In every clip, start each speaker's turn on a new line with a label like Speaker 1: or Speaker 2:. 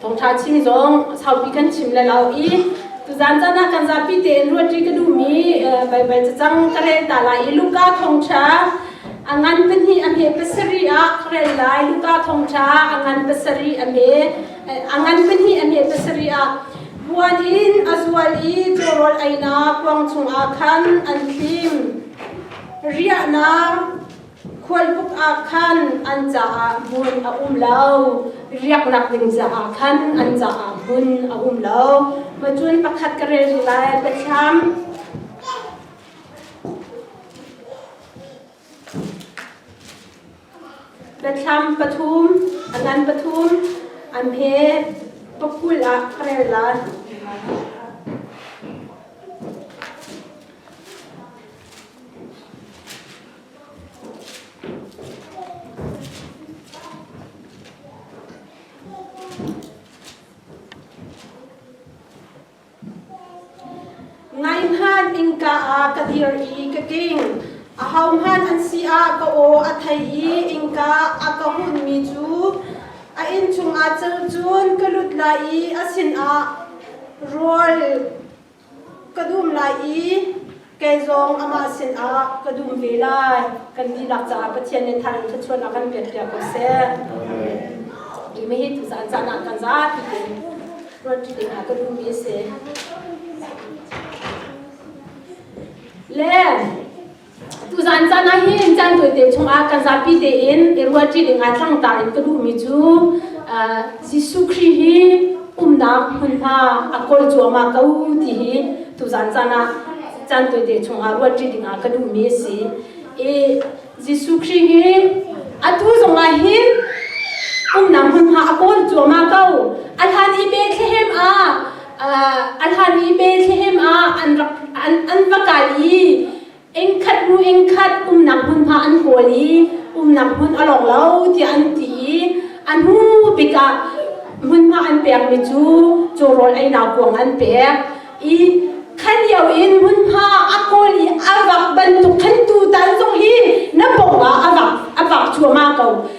Speaker 1: Thawngṭha chim zong saupi kan chim le lau i tuzan caan ah kan zapi tein ruahṭi ka duhmi baibai cacang ka rel ta lai i Luka thawngṭha a ngan pahnih a hme pasarih ah ka rel lai Luka thawngṭha a ngan pasarih a hme a ngan pahnih a hme pasarih ah buan in a zual i cawrawl einak kuang chungah khan an thlim riahnak Khualbuk ah khan an caah hmun a um lo. Riaknak ding caah khan an caah hmun a um lo. Macun pakhat ka rel duh lai, Pathian. Pathian pathum, angan pathum, an he pakul ah rel lai. Ngainhan innka ah ka dir i ka ting. A hohman an si ah ka aw a thei i innka a ka hunmi cu a inn chung ah cel cun ka lut lai i a sinah rawl Ka dum lai i kei zong amah sinah ka dum ve lai, kan dihlak caah Pathian nih thar in thluachuahnak kan pekpiak ko seh. Ti me hi tuzaan caan ah kan zapi te ruanṭi te hna ka dummi a si. Le Tuzaan caan ah hin caan tawite chungah kan zapi tein i rualṭi ding ah tlangtar in ka duhmi cu Jesuh Khrih hi umnak hmunhma a kawl cuahmah ko ti hi tuzaan caan ah caan tawite chungah rualṭi ding ah ka duhmi a si. I Jesuh Khrih hi atu zongah hin umnak hmunhma a kawl cuahmah ko. A hlan i Bethlehem ah An hani pe thlehem ah an va kal i engkhat hnu engkhat umnak hmunhma an kawl i umnak hmun a lawng lo tiah an ti i a hnu bik ah hmunhma an pekmi cu cawrawl einau kuang an pek i kha lio in hmunhma a kawl i a vak bantuk khan tutan zong hi na pawng ah a vak cuahmah ko.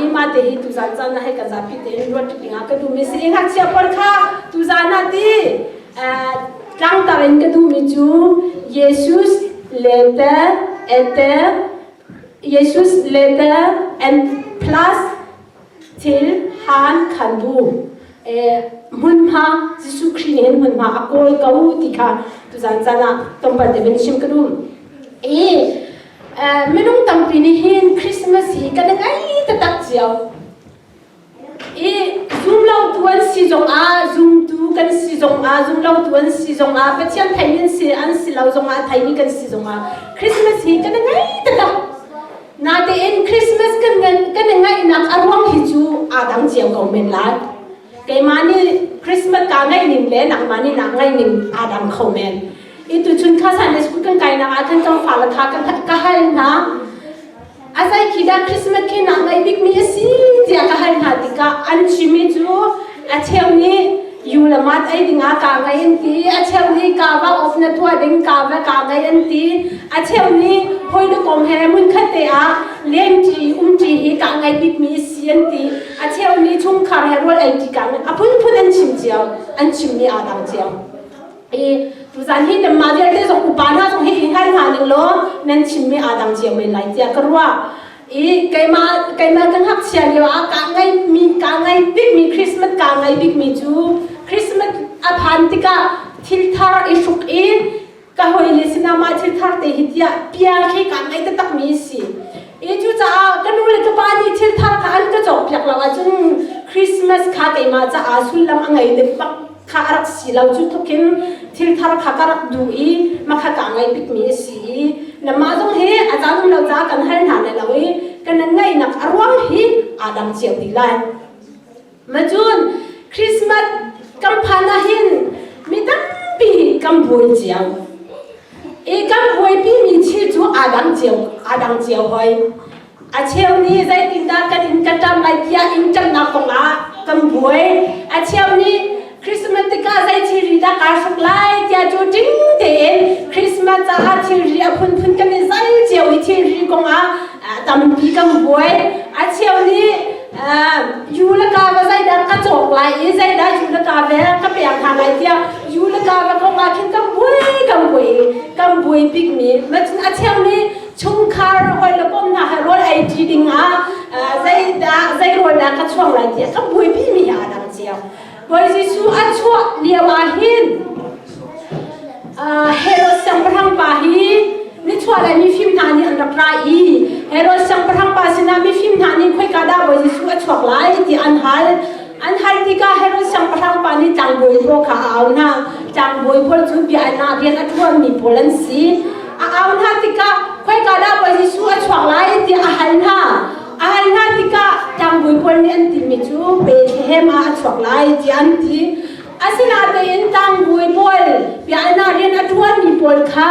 Speaker 1: i mate hi tuzaan caan ah hei kan zapi tein ruat ding ah ka duhmi si ngakchia pawl kha tuzaan ah ti tlangtar in ka duhmi cu Yesus letter ether Yesus letter and plus til han kan bu hmunhma Jesuh Khrih nih hin hmunhma a kawl ko ti kha tuzaan caan ah tompan te bin chim ka dum i minung tampi nih hin Christmas hi kan i ngei taktak cio i zumlotu an si zongah zumtu kan si zongah zumlotu an si zongah Pathian theih in si an si lo zongah theih ni kan si zongah Christmas hi kan i ngei taktak natein Christmas kan kan i ngaihnak a ruang hi cu aa dang cio ko men lai keimah nih Christmas ka ngaih ning le nangmah nih nak ngaih ning aa dang kho men Ituchun khasan school kan kainak ah khan cang fala tha kan ka hal hna. Azai khi dah Christmas khi nak ngai bik mi asi tia ka hal hna tikah an chimi cu a cheu nih u le mat ei dingah ka ngai an ti a cheu nih ka va off na thua ding ka va ka ngai an ti a cheu nih hoi le kom he mun khate ah lem ṭi um ṭi hi ka ngai bik mi si an ti a cheu nih chungkhar he rual ei ṭi ka ngai a phunphun an chim cio an chimmi aa dang cio i tuzan hi nan mah vialte zong upa hna zong hi i ngai hna ning law nan chimmi aa dang cio men lai tiah ka ruah i keimah keimah ka ngakchia lio ah kaa ngai mi kaa ngai bik mi Christmas kaa ngai bik mi cu Christmas a phan tikah thilthar i hruk i ka hoile sinama thilthar te hi tiah pia khi kaa ngai taktak mi si i cucaah ka nu le ka pa nih thilthar kha an ka cawk piak lo ahcun Christmas kha keimah caah sullam a ngei dek bak kha a rak si lo cu tlukin thilthar kha ka rak duh i makha ka ngei bikmi a si i namah zong hi a ca zum lo ca kan hal hna lai lo i kan ngaihnak a ruang hi aa dang cio ti lai macun Christmas kan phan ahhin mi tampi kan buai cio i kan huaipi mi thil cu aa dang cio aa dang cio hoi A cheu nih zeitindah kan in ka ṭam lai tiah in ṭamnak kongah kan buai. A cheu nih Christmas tikah zei thilri dah kaa hruk lai tiah cu ting tein Christmas caah thilri a phunphun kan i zal cio i thilri kongah ah tampi kan buai. A cheu nih uh, u le ka va zeidah ka cawk lai i zeidah u le ka vel ka pek hna lai tiah u le ka va kongah khin kan buai kan buai i kan buai bikmi. A cheu nih chungkhar hawile kom hna he rawl ei ṭi dingah zeidah zei rawl dah ka chuang lai tiah ka buaipimi hi aa dang cio Bawi Jesuh a chuah lio ahhin Herod siangpahrang pa hi nichuahlei mifim hna nih an rak ra i Herod siangpahrang pa sinah mifim hna nih khoika dah Bawi Jesuh a chuak lai tiah an hal An hal tikah Herod siangpahrang pa nih tlangbawi pawl kha a au hna. Tlangbawi pawl cu biaknak rian a ṭuanmi pawl an si. A au hna tikah khoika dah Bawi Jesuh a chuak lai tiah a hal hna. A hal hna tikah tlangbawi pawl nih an timi cu Bethlehem ah a chuak lai tiah an ti. Asinain tlangbawi pawl biaknak rian a ṭuanmi pawl kha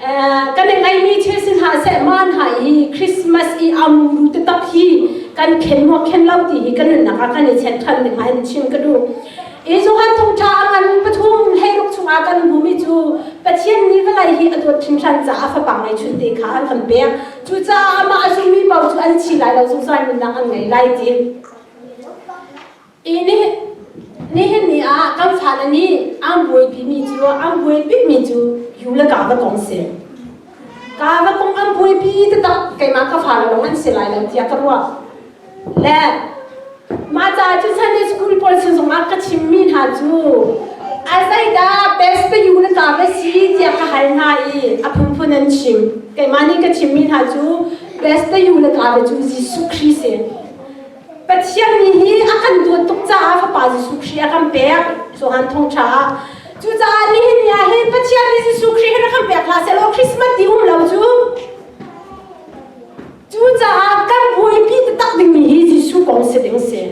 Speaker 1: kan i ngaihmi thil si hna seh man hna i Christmas i am ru te tak hi kan khen maw khen lo ti hi kan nunnak ah kan i chet than ding in chim ka duh i Johan thongtha a ngan pathum hleiruk chungah kan hmumi cu Pathian nih vawlei hi a dawt hringhran caah fapang ngei chun te kha an kan pek cucaah amah a zummi bo cu an thi lai lo zungzal nunnak an ngei lai ti I nihin ni ah kan fale nih an buaipimi cu an buaipimi cu yu le ka va kong si. Ka va kong an buaipi te tak keimah ka fale lawng an si lai lo tiah ka ruah. Le mah ca cu Sunday school pawl sin zongah ka chimmi hna cu a zeidah best te yu le ka va si tiah ka hal hna i a phunphun an chim. Keimah nih ka chimmi hna cu best te yu le ka va cu Jesuh Khrih si. Pathian mi hi a kan dawt tuk caah Fapa Jesuh Khrih a kan pek Johan thongṭha ah. Cucaah nihin ni ah hin Pathian nih Jesuh Khrih hi rak kan pek hlah sehlaw Christmas ti um lo cu. Cucaah kan buaipi taktak dingmi hi Jesuh kong si ding si.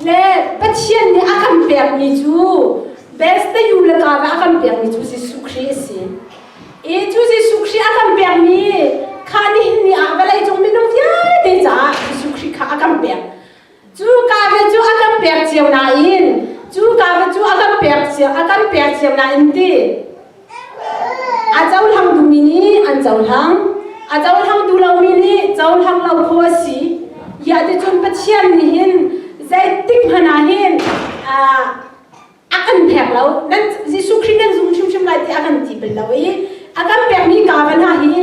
Speaker 1: Le Pathian nih a kan pekmi cu Bethsayuu le Gaza a kan pekmi cu Jesuh Khrih a si. I cu Jesuh Khrih a kan pekmi kha nihin ni ah vawleicung minung vialte caah Jesuh Khrih kha a kan pek. Cu Gaza cu a kan pek cio nain cu Gaza cu a kan pek cio a kan pek cio nain ti A cohlang duhmi nih an cohlang. A cohlang duh lomi nih cohlang lo kho a si. Hiah ticun Pathian nih hin zeitik hmanh ah hin ah, a kan pek lo. Nan Jesuh Khrih nan zum hrimhrim lai tiah a kan ti bal lo i a kan pekmi kaba hna hi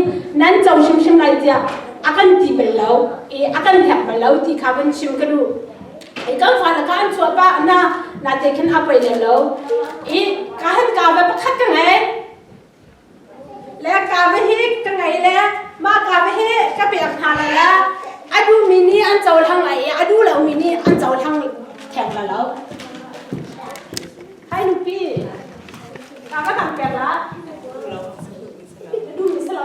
Speaker 1: nan co hrimhrim lai tiah a kan ti bal lo i a kan pek bal lo ti kha kan chim ka duh. Ei kan fa na kan chuah pa na na te khin a pei lem lo i ka han ka ve pakhat ka ngei le ka ve hi ka ngei le ma ka ve hi ka pek hna la le a du mi ni an cho thang lai i a du lo mi ni an cho thang theng la lo hai nupi ka va kan pek la du mi sa lo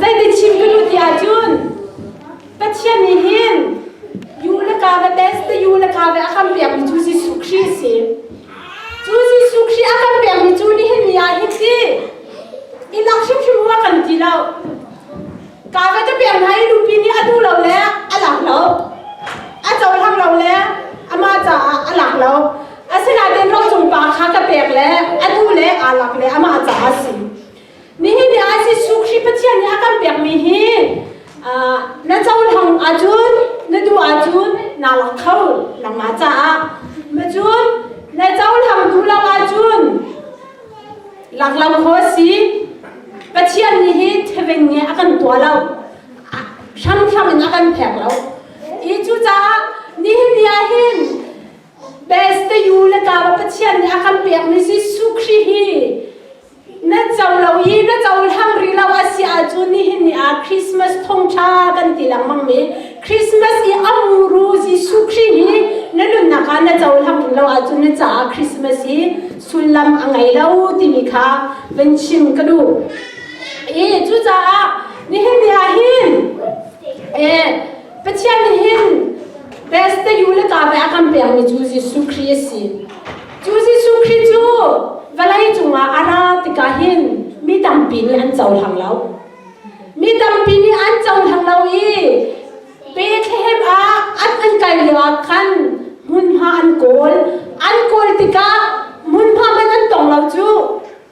Speaker 1: Zeitin chim ka duh ti ahcun Pathian nih hin U le ka va tes te U le ka va a kan pekmi cu Jesuh Khrih a si. Cu Jesuh Khrih a kan pekmi cu nihin ni ah hin ti i lak hrimhrim rua kan ti lo. Ka va ka pek hna i nupi nih a duh lo le a lang lo. A cohlang lo le amah caah a lang lo. Asinain rocung pa kha ka pek le a nu le aa lak le amah caah a si. Nihin ni ah Jesuh Khrih Pathian nih a kan pekmi hi na cohlang ahcun na duh ahcun naa lang kho nangmah caah macun na cohlang duh lo ahcun laklang kho a si Pathian nih hi theveng nge a kan tua lo hranghrang in a kan phek lo i cucaah nihin ni ah hin Beste U le Kara Pathian nih a kan pekmi Jesuh Khrih hi na co lo i na cohlang rih lo a si ahcun nihin ni ah Christmas thongtha kan ti lengmangmi Christmas i a muru Jesuh Khrih hi na nunnak ah na cohlang rih lo ahcun na caah Christmas hi sullam a ngei lo timi kha van chim ka duh. I cucaah nihin ni ah hin eh, Pathian nihin Bethte u le ka bai a kan pekmi cu Jesuh Khrih a si. Cu Jesuh Khrih cu vawlei cungah a ra tikah hin mi tampi nih an cohlang lo. Mi tampi nih an cohlang lo i Bethlehem ah an an kal lioah khan hmunhma an kawl. An kawl tikah hmunhma hmanh an tong lo cu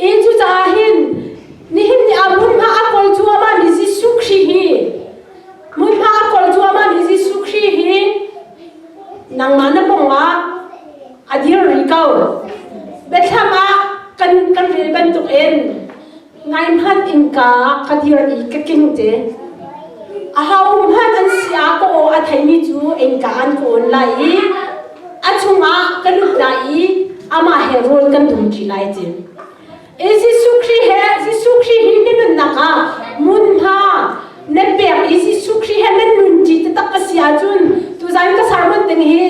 Speaker 1: I cucaah hin nihin ni ah hmunhma a kol cuahmah mi Jesuh Khrih hi hmunhma a kol cuahmah mi Jesuh Khrih hi nangmah na kongah a dir rih ko. Biathlam ah kan kan rel bantukin ngaihmanh innka ka dir i ka king te. A ho hmanh an si a ka aw a theimi cu innka an ka awn lai i A chungah kan lut lai i amah he rawl kan dum ṭi lai ti. I Jesuh Khrih he Jesuh Khrih hi na nunnak ah hmunhma na pek i Jesuh Khrih he nan nun ṭi taktak a si ahcun tuzan ka sermon ding hi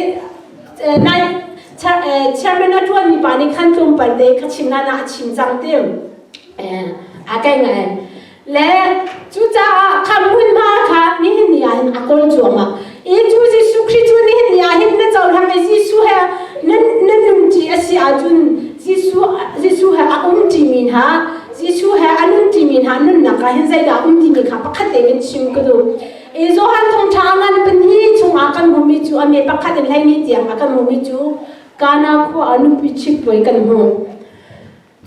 Speaker 1: eh, nai chair- eh, chairman a ṭuan mi pa nih khan tlawmpal te kha chim nan ah a chim cang tim. Eh, a kai ngai. le cucaah kha hmun hna kha nihin ni ah in a kol cuangah i cu Jesuh Khrih cu nihin ni ah hin na cohlang i Jesuh he na na nun ṭi a si ahcun Jesuh Jesuh he a um ṭimi hna Jesuh he a nun ṭimi hna nunnak ah hin zeidah a um timi kha pakhat tein chim ka duh i Johan thawngṭha a ngan pahnih chungah kan hmumi cu a me pakhat in hleihnih tiang a kan hmumi cu Kana khua ah nupi ṭhit puai kan hmuh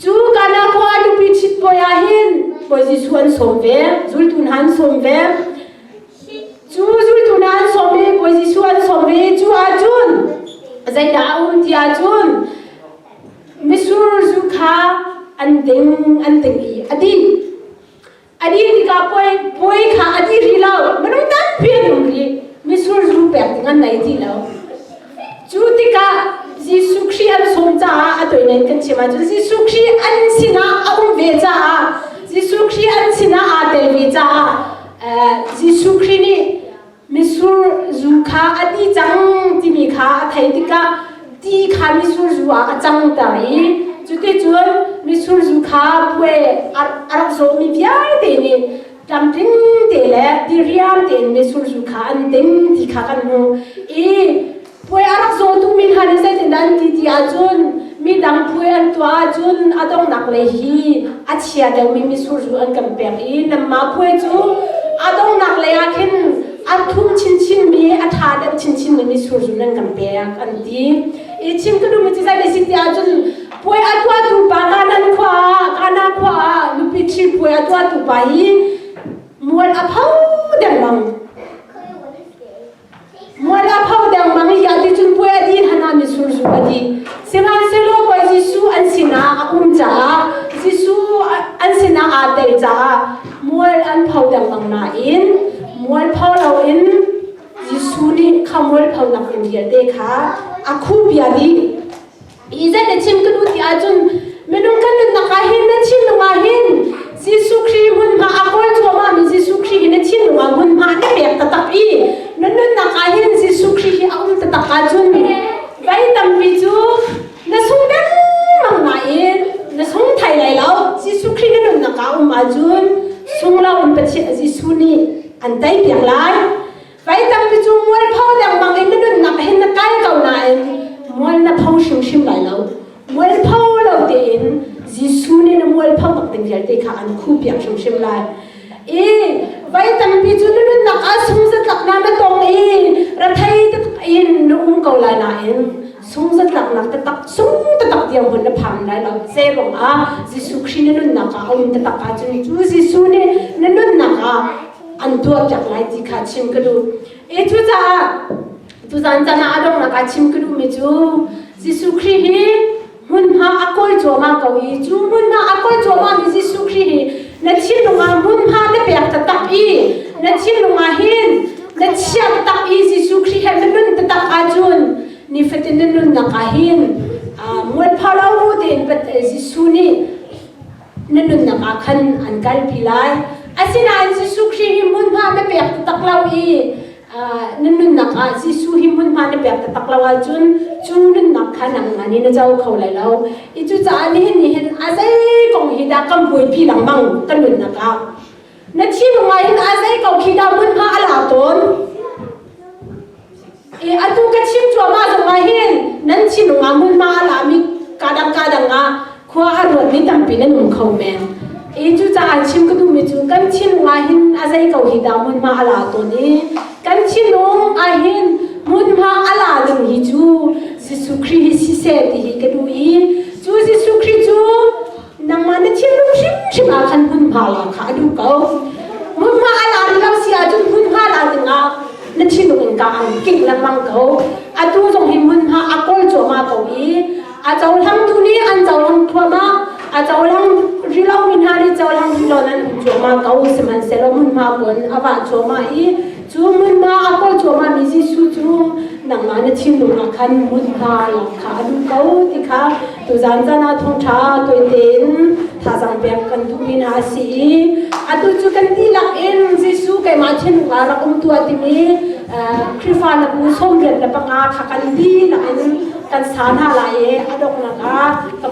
Speaker 1: Cu Kana khua nupi chit puai ah hin puai Jesuh an sawm ve, zultu hna an sawm ve. Cu zultu hna an sawm i puai Jesuh an sawm ve i cu ahcun zeidah a um ti ahcun misur zu kha an ding an ding i a dih. A dih tikah puai, puai kha a ti rih lo. Minung tampi an um rih. Misurzu pek ding an nei ti lo. Cu tikah Jesuh Khrih an sung caah a toinen kan chim ahcun Jesuh Khrih an sinah a um ve caah Jesuh Khrih an sinah aa telmi caah eh, Jesuh Khrih nih Misur zu kha a ti cang timi kha a theih tikah ti kha misur zu ah a cangter i cuticun misur zu kha puai a rak zawmi vialte nih tlamtling te le diriam tein misur zu kha an ting ti kha kan hmuh i Puai a rak zawtumi hna nih zeitindah an ti ti ahcun midang puai an tuah ahcun a donghnak lei hi a chia deuhmi misurzu an kan pek i nanmah puai cu a donghnak lei ah khin an thum chinchinmi a ṭha deuh chinchinmi misurzu nan kan pek an ti i chim ka duhmi cu zeiti si ti ahcun puai a tuahtu pa Kanan khua ah Kana khua ah nupi ṭhi puai a tuahtu pa hi mual a pho dengmang Muala pho dengmang i dah ti cun puai a di han ah mi surzu a di. Sihmanhsehlaw Bawi Jesuh an sinah a um caah Jesuh an sinah aa tel caah mual an pho dengmang nain mual pho loin Jesuh nih kha mual pho nakin vialte kha a khuh bia dih. i zei na chim ka nu ti ahcun minung kan nunnak ah hin na thinlung ah hin Jesuh Khrih hmunhma a kawr cuahmahmi Jesuh Khrih hi na thinlung ah hmunhma na pek taktak i na nunnak ah hin Jesuh Khrih hi a um taktak ahcun vai tampi cu na sung dengmang nain na sung thai lai lo Jesuh Khrih na nunnak ah um ahcun sung lo in Pathian Jesuh nih an tei piak lai Mei tampi cu mual pho lengmang in na nunnak hin na kai ko nain mual na pho hrimhrim lai lo. Mual pho lo tein Jesuh nih na mual pho bak ding vialte kha an khuhpiak hrimhrim lai. I vai tampi cu na nunnak ah sungzatlaknak na tong i rathei taktak in na um ko lai nain sungzatlaknak tatak sung tatak dirhmun na phang lai lo ce ruang ah Jesuh Khrih na nunnak ah a um tatak ahcun cu Jesuh nih na nunnak ah an tuar piak lai ti kha chim ka duh i cu caah tuzan can ah a donghnak ah chim ka duhmi cu Jesuh Khrih hi hmunhma a kawi cuahmah ko i cu hmunhma a kawi cuahmah mi Jesuh Khrih hi na thinlung ah hmunhma na pek tatak i na thinlung ah hin na chiat tak i Jesuh Khrih he na nun tatak ahcun nifatin na nunnak ah hin mualpha lo u tiin Jesuh nih na nunnak ah khan an kalpi lai. Asinain Jesuh Khrih hi hmunhma na pek taktak lo i na nunnak ah Jesuh hi hmunhma na pek taktak lo ahcun cu nunnak kha nangmah nih na co kho lai lo. I cucaah nihin nih hin a zei kong hi dah kan buaipi lengmang kan nunnak ah. Na thinlung ah hin a zei ko khi dah hmunhma a la tawn? I atu ka chim cuahmah zong ah hin nan thinlung ah hmunhma a lami kadang kadang ah khua a ruatmi tampi nan um kho men. I cucaah chim ka duhmi cu kan thinlung ah hin a zei ko hi dah hmunhma a la tawn i kan thinlung ah hin hmunhma a la ding hi cu Jesuh Khrih hi siseh ti hi ka duh i cu Jesuh Khrih cu nangmah na thinlung hrimhrim ah khan hmunhma la kha a duh ko hmunhma a la rih lo si ahcun hmunhma la dingah na thinlung in ka an kingh lengmang ko atu zong hi hmunhma a kol cuama ko i a cohlangtu nih an cohlang thuama a cohlang rilo min ha ri cohlang rilo nan um cuama ko sihmanhsehlaw hmunhma kun a wa cuama i Cu hmunhma a kawl cuahmahmi Jesuh cu nangmah na thinlung ah khan hmunhma lam kha a luh ko ti kha tuzan zan ah thawngṭha tuan tein thazang pek kan duhmi hna a si i atu cu kan dihlak in Jesuh keimah thinlung ah rak um tuah timi Khrihfa na bu sawmrian le panga kha kan dihlak in kan sa hna lai i a donghnak ah kan